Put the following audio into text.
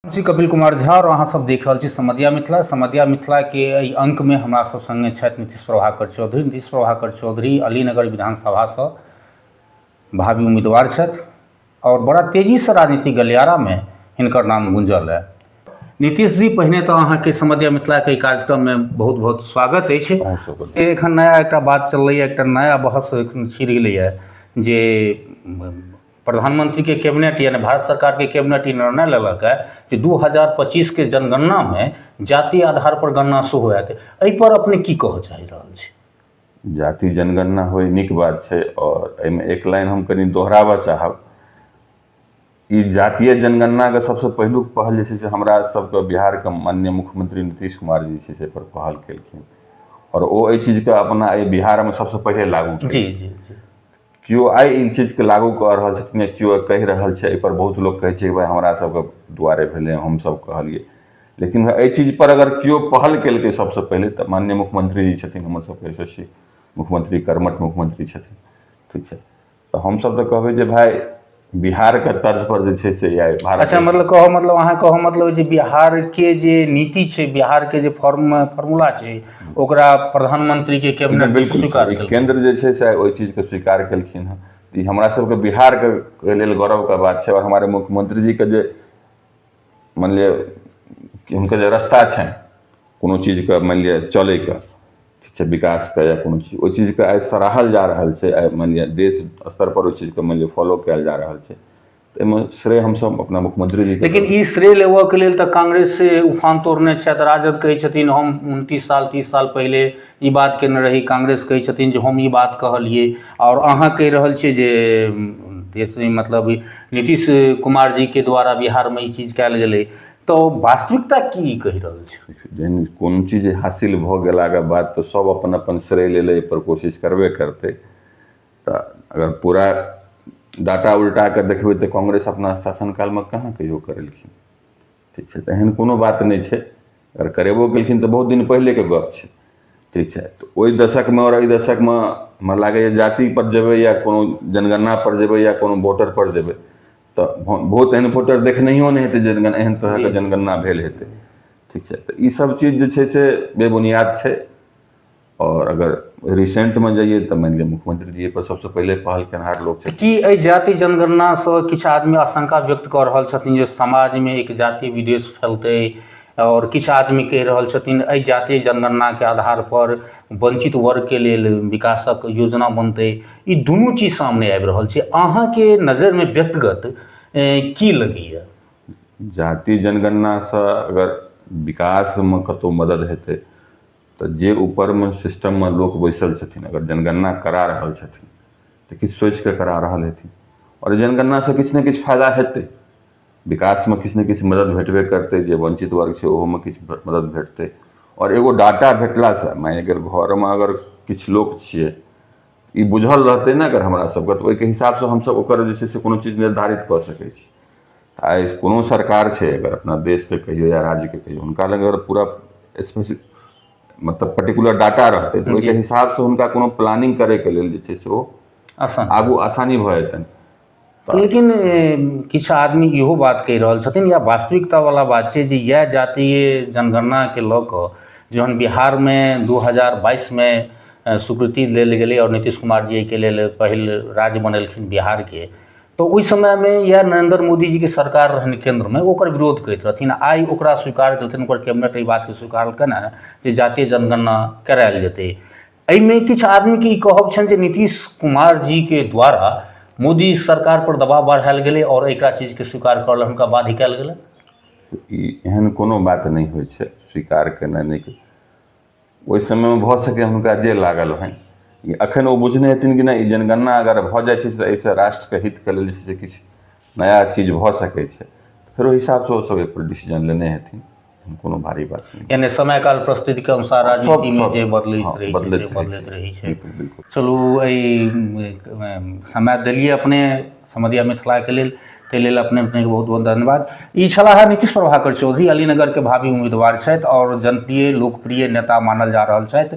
हम छी कपिल कुमार झा आओर अहाँ सब देख रहल छी समधिया मिथिला समधिया मिथिला के एहि अंक मे हमरा सब संगे छथि नीतीश प्रभाकर चौधरी नीतीश प्रभाकर चौधरी अलीनगर विधानसभा सँ भावी उम्मीदवार छथि आओर बड़ा तेजी सँ राजनीतिक गलियारा मे हिनकर नाम गुंजल है नीतीश जी पहिने तऽ अहाँ के समधिया मिथिला के एहि कार्यक्रम मे बहुत बहुत स्वागत अछि अहूँ सबके से एखन नया एकटा बात चललैए एकटा नया बहस एखन छिड़ गेलैए जे प्रधानमंत्रीके कैबिनेट यानि भारत सरकारके कैबिनेट ई निर्णय लेलक हँ जे दू हजार पचीसके जनगणनामे जाति आधार पर गणना सेहो होयत एहि पर अपने की कहऽ चाहि रहल छी जाति जनगणना होइ नीक बात छै आओर एहिमे एक लाइन हम कनि दोहराबऽ चाहब ई जातीय जनगणनाके सबसँ पहिलुक पहल जे छै से हमरा सबके बिहारके माननीय मुख्यमंत्री नीतीश कुमार जी छै से एहिपर पहल केलखिन आओर ओ एहि चीजके अपना एहि बिहारमे सबसँ पहिले लागू जी जी जी केओ आइ ई चीजके लागू कऽ रहल छथिन या केओ कहि रहल छै एहिपर बहुत लोक कहै छै भाइ हमरा सबके दुआरे भेलै हमसब कहलियै लेकिन एहि चीज पर अगर केओ पहल केलकै सबसँ पहिले तऽ माननीय मुख्यमंत्री जी छथिन हमर सबके यशस्वी मुख्यमंत्री कर्मठ मुख्यमंत्री छथिन ठीक छै तऽ हमसब तऽ कहबै जे भाइ बिहारके तर्ज पर जे छै से आइ भारत अच्छा मतलब कहऽ मतलब अहाँ कहऽ मतलब जे बिहारके जे नीति छै बिहारके जे फॉर्म फॉर्मूला छै ओकरा प्रधानमंत्रीके कैबिनेट नहि, बिल्कुल स्वीकार सही। केलकै केंद्र जे छै से ओहि चीजके स्वीकार केलखिन हँ तऽ ई हमरा सबके बिहारके लेल गौरवके बात छै आओर हमारे मुख्यमंत्री जीके जे मानि लिअ कि हुनकर जे रस्ता छनि कोनो चीजके मानि लिअ चलैके ठीक छै विकासके या कोनो चीज ओइ चीजके आइ सराहल जा रहल छै आइ मानि लिअ देश स्तरपर ओइ चीजके मानि लिअ फॉलो कयल जा रहल छै एहिमे श्रेय हमसभ अपना मुख्यमंत्री जी लेकिन ई श्रेय लेबऽके लेल तऽ कांग्रेस से उफान तोड़ने छथि राजद कहै छथिन हम उनतीस साल तीस साल पहिले ई बात कयने रही कांग्रेस कहै छथिन जे हम ई बात कहलियै आओर अहाँ कहि रहल छियै जे देश नहि मतलब नीतीश कुमार जी के द्वारा बिहारमे ई चीज कयल गेलै तऽ वास्तविकता की कहि रहल छै जहन कोनो चीज हासिल भऽ गेलाके बाद तऽ सब अपन अपन श्रेय लै लए एहिपर कोशिश करबे करतै तऽ अगर पूरा डाटा उलटाके देखबै तऽ कांग्रेस अपना शासन कालमे कहाँ कहियो करेलखिन ठीक छै तऽ एहन कोनो बात नहि छै अगर करेबो कयलखिन तऽ बहुत दिन पहिलेके गप छै ठीक छै तऽ ओहि दशकमे आओर एहि दशकमे हमरा लागैए जाति पर जेबै या कोनो जनगणना पर जेबै या कोनो वोटर पर जेबै तऽ भो बहुत एहन वोटर देखनैहियो नहि हेतै जे जनगण एहन तरहके जनगणना भेल हेतै ठीक छै तऽ ई सब चीज जे छै से बेबुनियाद छै आओर अगर रिसेंटमे जइयै तऽ मानि लिअ मुख्यमंत्री जी एहिपर सभसँ पहिले पहल केनहार लोक छथिन की एहि जाति जनगणनासँ किछु आदमी आशंका व्यक्त कऽ रहल छथिन जे समाजमे एक जाति विद्वेष फैलतै आओर किछु आदमी कहि रहल छथिन एहि जाति जनगणनाके आधारपर वंचित वर्गके लेल विकासक योजना बनतै ई दुनू चीज सामने आबि रहल छै अहाँके नजरिमे व्यक्तिगत एँ, की लगैए जाति जनगणनासँ अगर विकासमे कतहु मदद हेतै तऽ जे ऊपरमे सिस्टममे लोक बैसल छथिन अगर जनगणना करा रहल छथिन तऽ किछु सोचि कऽ करा रहल हेथिन आओर जनगणनासँ किछु ने किछु फायदा हेतै विकासमे किछु ने किछु मदद भेटबे करतै जे वञ्चित वर्ग छै ओहोमे किछु मदद भेटतै आओर एगो डाटा भेटलासँ मानि लिअ कि घरमे अगर किछु लोक छियै ई बुझल रहतै ने अगर हमरा सबके तऽ ओहिके हिसाबसँ हमसब ओकर जे छै से कोनो चीज निर्धारित कऽ सकै छी आइ कोनो सरकार छै अगर अपना देशके कहियौ या राज्यके कहियौ हुनका लग अगर पूरा स्पेसिफिक मतलब पर्टिकुलर डाटा रहतै तऽ ओहिके हिसाबसँ हुनका कोनो प्लानिंग करैके लेल जे छै से ओ आसान आगू आसानी भऽ जेतनि लेकिन किछु आदमी इहो बात कहि रहल छथिन या वास्तविकता बला बात छै जे इएह जातीय जनगणनाके लऽ कऽ जहन बिहारमे दू हजार बाइसमे स्वीकृति लेल गेलै आओर नीतीश कुमार जी एहिके लेल पहिल राज्य बनेलखिन बिहारके तऽ ओहि समयमे इएह नरेन्द्र मोदी जीके सरकार रहनि केन्द्रमे ओकर विरोध करैत रहथिन आइ ओकरा स्वीकार केलखिन ओकर कैबिनेट एहि बातके स्वीकार केलखिन हँ जे जातीय जनगणना करायल जेतै एहिमे किछु आदमीके ई कहब छनि जे नीतीश कुमार जीके द्वारा मोदी सरकार पर दबाव बढ़ायल गेलै आओर एकरा चीजके स्वीकार करऽ लए हुनका बाध्य कयल गेलै ई एहन कोनो बात नहि होइ छै स्वीकार केनाइ नहि के- ओहि समयमे भऽ सकै हुनका जे लागल होनि अखन ओ बुझने हेथिन कि नहि ई जनगणना अगर भऽ जाइ छै तऽ एहिसँ राष्ट्रके हितके लेल जे छै से किछु नया चीज भऽ सकै छै फेर ओहि हिसाबसँ ओ सब एहिपर डिसीजन लेने हेथिन एहन कोनो भारी बात नहि छै यानि समय काल परिस्थितिके अनुसार सब- राजनीतिमे सब- जे बदलैत हँ, रहै छै बदलैत से रहै बदलैत छै। रहै छै बिल्कुल बिल्कुल चलू एहि समय देलियै अपने समधिया मिथिलाके लेल ताहि लेल अपने अपनेके बहुत बहुत धन्यवाद ई छलाह नीतीश प्रभाकर चौधरी अलीनगरके भावी उम्मीदवार छथि आओर जनप्रिय लोकप्रिय नेता मानल जा रहल छथि